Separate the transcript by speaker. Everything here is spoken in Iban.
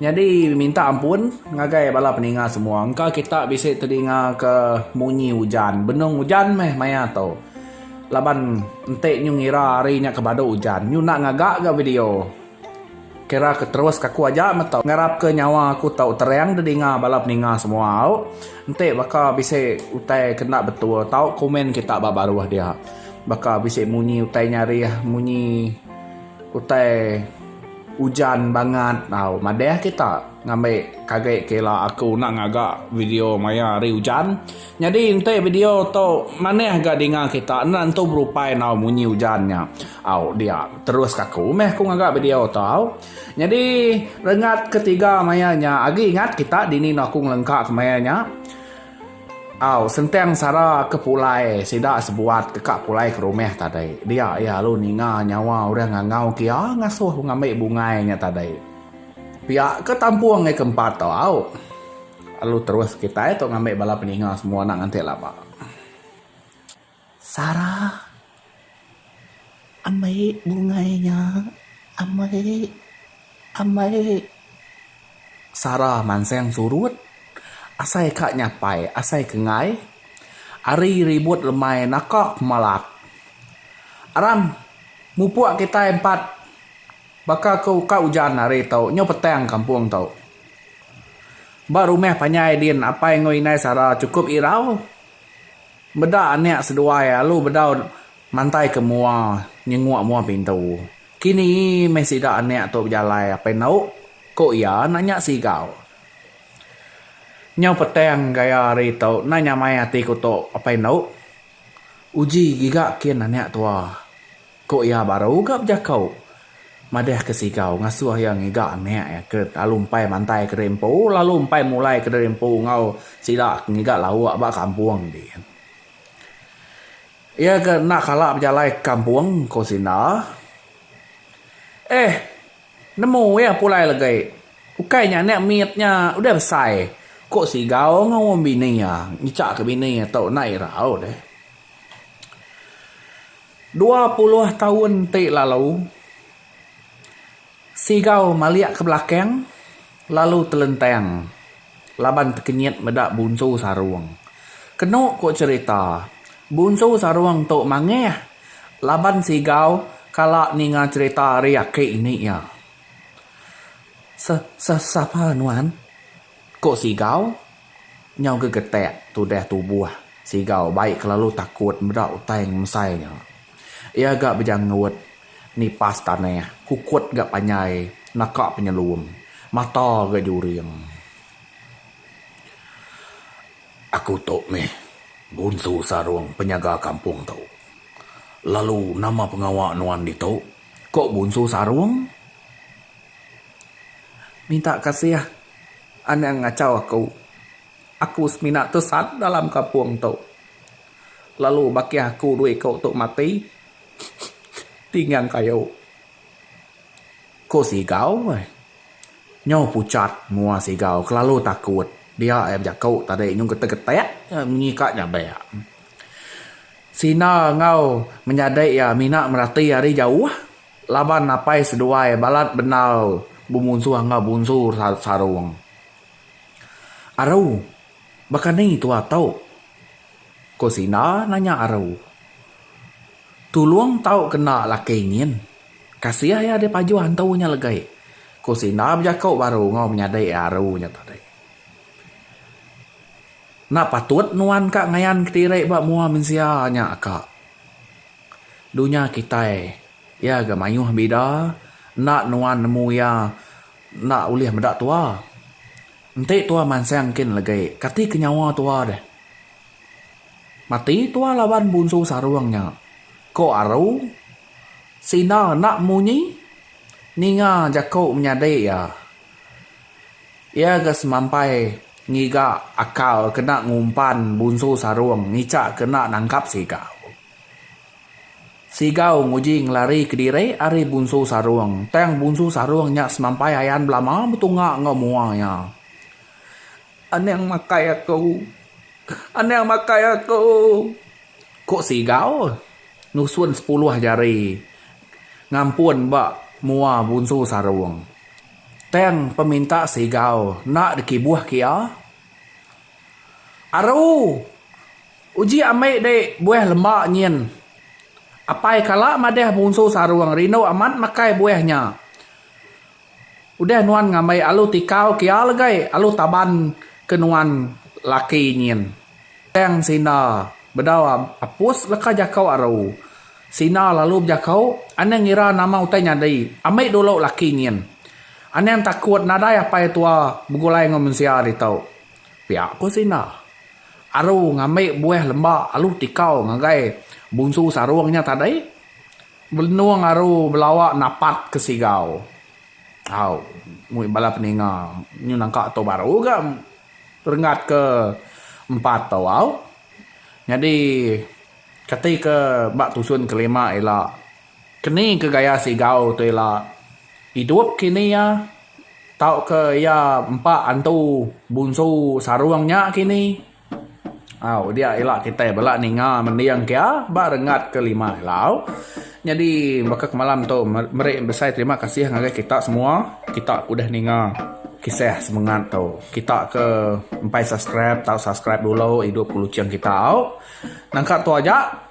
Speaker 1: Nyadi minta ampun ngagai bala peninga semua engka kita bisi tedingaka munyi ujan benung ujan meh maya tu laban enti nyu ngira hari nya ke badu ujan nyu enda ngaga ga video kira ke terus aku aja meh tu ngarap ke nyawa aku tu terang didinga bala peninga semua au enti baka bisi utai ke enda betul tau komen kita ba baruh dia baka bisi munyi utai nyarih munyi utai. Ujan bangat tau madah kita ngambi kage kela aku enda ngaga video maya hari ujan nyadi enti video tu manah ga dinga kita enda nentu berupai enggau munyi ujan nya au dia terus ka aku meh aku ngaga video tu au nyadi rengat ketiga maya nya agi ingat kita dini enda aku ngelengka ke maya nya. Au Sentang sara ke pulai sida sebuat deka pulai ke rumah tadi. Dia iya lalu ninga nyawa orang ngangau ke iya ngasuh ku ngambi bungai nya tadi. Pia ke tampung hari ke empat tu au lalu terus kitai tu ngambi bala peninga semua enda nganti laba. Sara ambai bungai nya ambai ambai. Sara mansang surut asai ka nyapai asai ke enggai ari ribut lemai naka pemalak. Aram mupuk kitai empat baka ke ka ujan hari tu nyau petang kampung tu. Ba rumah panjai din apai enggau indai Sara sukup irau. Meda anak seduai alu bedau mantai ke mua nyenguk mua pintu. Kini meh sida anak tu bejalai apai endo ku iya enda nya sigau. Nyau petang gaya hari tu enda nyamai ati ku tu apai endo. Uji giga kin anak tua. Ku iya baru ga bejako madah ke Sigau ngasoh iya ngiga anak iya ke lalu empai mantai kediri empu lalu empai mulai kediri empu enggau sida ke ngiga lauk ba kampung dian. Iya ga enda kala bejalai ke kampung ku Sinda. Eh nemu iya pulai legi ukai nya anak mit nya udah besai ku Sigau enggau bini iya ngichak ke bini iya tu enda irau deh. Dua puluh taun ti lalu, Sigau malik ke belakang lalu telentang laban tekenyit meda Bunsu Sarong. Kenu ku cherita, Bunsu Sarong tu mangah laban Sigau kala ninga cherita ari aki ini iya. Seh seh sapa nuan? Ko Sigau, nyau gegetak tudah tubuh Sigau bai kelalu takut meda utai ngemsai nya. Iya ga bejanggut nipas tanah, kukut ga panjai naka penyelum, mata ga juring. Aku tu mih Bunsu Sarung penyaga kampung tu. Lalu nama pengawa nuan ditu? Ko Bunsu Sarung. Minta kasih anang ngachau aku. Aku semina tesan dalam kampung tu. Lalu bakih aku dua iku tu mati tinggang kayu. Ko Sigau ai. Nyau puchat mua Sigau kelalu takut. Dia ai bejaku tadi nyau getek-getek munyi ka nyabek. Sina enggau menyadi iya mina merati ari jauh. Laban apai seduai balat bendar bemunsuh enggau bunsur sarung. Aru, baka ni tua tu? Ko Sinda nanya Aru. Tulung tau ke enda laki nyin. Kasih iya deh pajuh hantu nya legai, ko Sinda bejako baru enggau menyadi Aru nya tadi. Enda patut nuan ka ngayan kediri ba mua mensia nya ka. Dunya kitai iya ga mayuh bida enda nuan nemu iya enda ulih meda tua. Enti tua mansang engkin legi kati ke nyawa tua deh. Mati tua laban bunsu sarung nya. Ko aru Sina enda munyi ninga jaku menyadi iya. Iya ga semampai ngiga akal kena ngumpan bunsu sarung ngica ke enda nangkap siga. Sigau nguji ngelari kediri ari Bunsu Sarung tang Bunsu Sarung nya semampai ayan belama betunga enggau mua iya. Anang makai aku. Anang makai aku. Ku Sigau nusun sepuluh jari ngampun ba mua Bunsu Sarung. Tang peminta Sigau enda dikibuh ke iya. Aru! Uji ambi dei buih lemba nyin. Apai kala madah munsu sarung rindu amat makai buih nya. Udah nuan ngambi alu tikau kia legai alu taban ke nuan laki nyin. Tang Sina bedau apus leka jako aru. Sina lalu bejako anang ngira nama utai nyadi ambi dulu laki nyin. Anang takut nadai apai tua begulai enggau mensia ditu. Pia ko Sinda. Aru ngambi buah lemba alu tikau ngagai Bunsu Sarung nya tadi. Belenung aru belawa napat ke Sigau. Au. Mui bala peninga nyu nangka tu baru ga renggat ke empat tu au. Nyadi kati ke ba tusun ke lima ila. Keni ke gaya Sigau tu ila idup kini iya tauka iya empa antu bunsu Sarung nya kini? Au dia ila kitai bala ninga mending kia ba renggat ke lima ila. Nyadi baka ke malam tu meri besai terima kasih ngagai kita semua kita ke udah ninga kisah semengat tu. Kita ke empai subscribe tau subscribe dulu idup ke Luching kita au. Nangka tu aja.